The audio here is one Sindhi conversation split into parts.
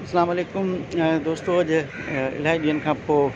اسلام عليڪم دوستو اڄ الائي ڏينهن کان پوء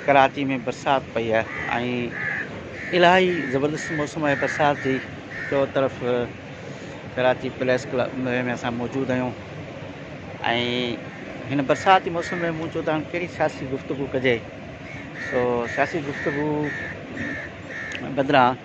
ڪراچي ۾ برسات پئي آهي ۽ الائي زبردست موسم آهي برسات جي چو طرف ڪراچي پليس ڪلب ۾ اسان موجود آهيون ۽ هن برسات جي موسم ۾ مون چو ته هاڻي ڪهڙي سياسي گفتگو ڪجي سو سياسي گفتگو بدران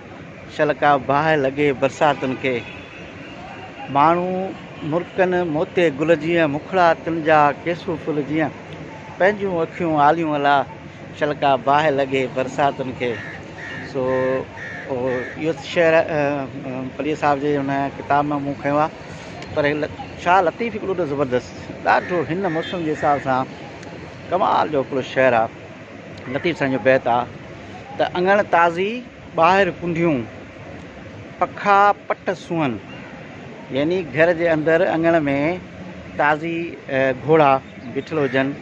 شلڪا باهه لڳي برساتن کي. ماڻهو مرڪن موتي گل جيئن، مکڙا تن جا ڪيسو ڦل جيئن، پنهنجون اکيون آليون الا، شلڪا باهه لڳي برساتن کي. سو اهو شعر پليجي صاحب جي ان ڪتاب مان مون کنيو آهي پر شاهه لطيف هڪڙو ته زبردست ڏاڍو هن موسم جي حساب سان ڪمال جو هڪڙو شعر آهي. لطيف سائين جو بيت آ ته اڱڻ تازي ٻاهر ڪنڍيون پکا پٽ سونهن يعني گهر جي اندر اڱڻ ۾ تازي گهوڙا بيٺل هجن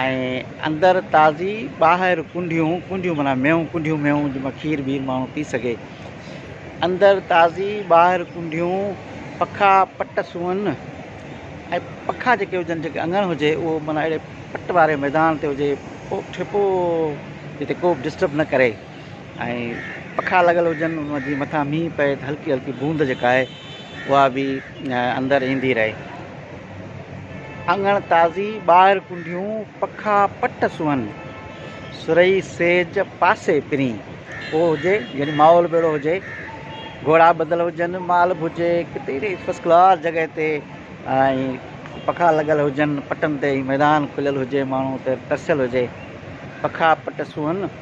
۽ اندر تازي ٻاهر ڪنڍيون ڪنڍيون معنيٰ ميون ڪنڍيون ميون جن مان کير بير ماڻهو پي سگهي اندر تازي ٻاهر ڪنڍيون پکا پٽ سونهن ۽ پکا جيڪي هجن جيڪي اڱڻ هجي اهو معنيٰ اهڙي پٽ واري ميدان تي هجي پو ٺپو جتي ڪوبه ڊسٽرب نه ڪري ۽ پکا لڳل هجن ان جي مٿان مينهن پئي ته هلڪي هلڪي بوند جيڪا آهي اها به اندر ايندي رهي اڱڻ تازي ٻاهر ڪنڊيون پکا پٽ سونهن سرهي سيج پاسي پرين. اهو هجي يعني ماحول به اهڙو هجي گهوڙا ٻڌل هجن مال به هجي ڪتي اهڙي فرسٽ ڪلاس جڳهه تي ۽ پکا لڳل هجن پٽن تي ۽ ميدان کليل هجي ماڻهو اتي ترسيل هجي پکا پٽ سونهن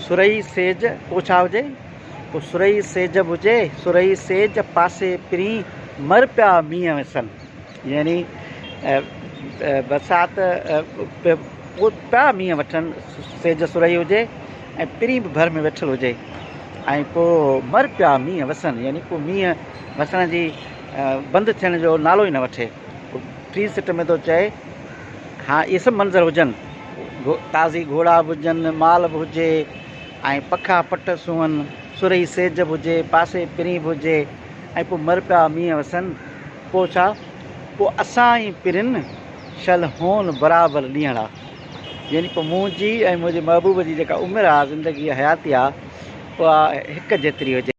سرهي سيج پوء ڇا هجي پوء سرهي سيج به هجي سرهي سيج پاسي پرين مر پيا مينهن وسن. يعني برسات پوء مينهن وٺن، سيج سرهي هجي ۽ پرين به ڀر ۾ ويٺل هجي ۽ پوء مر پيا مينهن وسن يعني پوء مينهن وسڻ جي بند ٿيڻ جو نالو ئي نه وٺي. ٽي سٽ ۾ ٿو چئي ها اهي سڀ منظر هجن، تازي گهوڙا به هجن، مال به هجي ۽ پکا پٽ سونهن، سرهي سيج به هجي، پاسي پرين به هجي ۽ پوء مر پيا مينهن وسن. پوء ڇا؟ پوء اسان ئي پرين شل هون برابر ڏينهڙا. يعني پوء منهنجي ۽ منهنجي محبوب جي جيڪا عمر آ، زندگي آ، حياتي آ، اها هڪ جيتري هجي.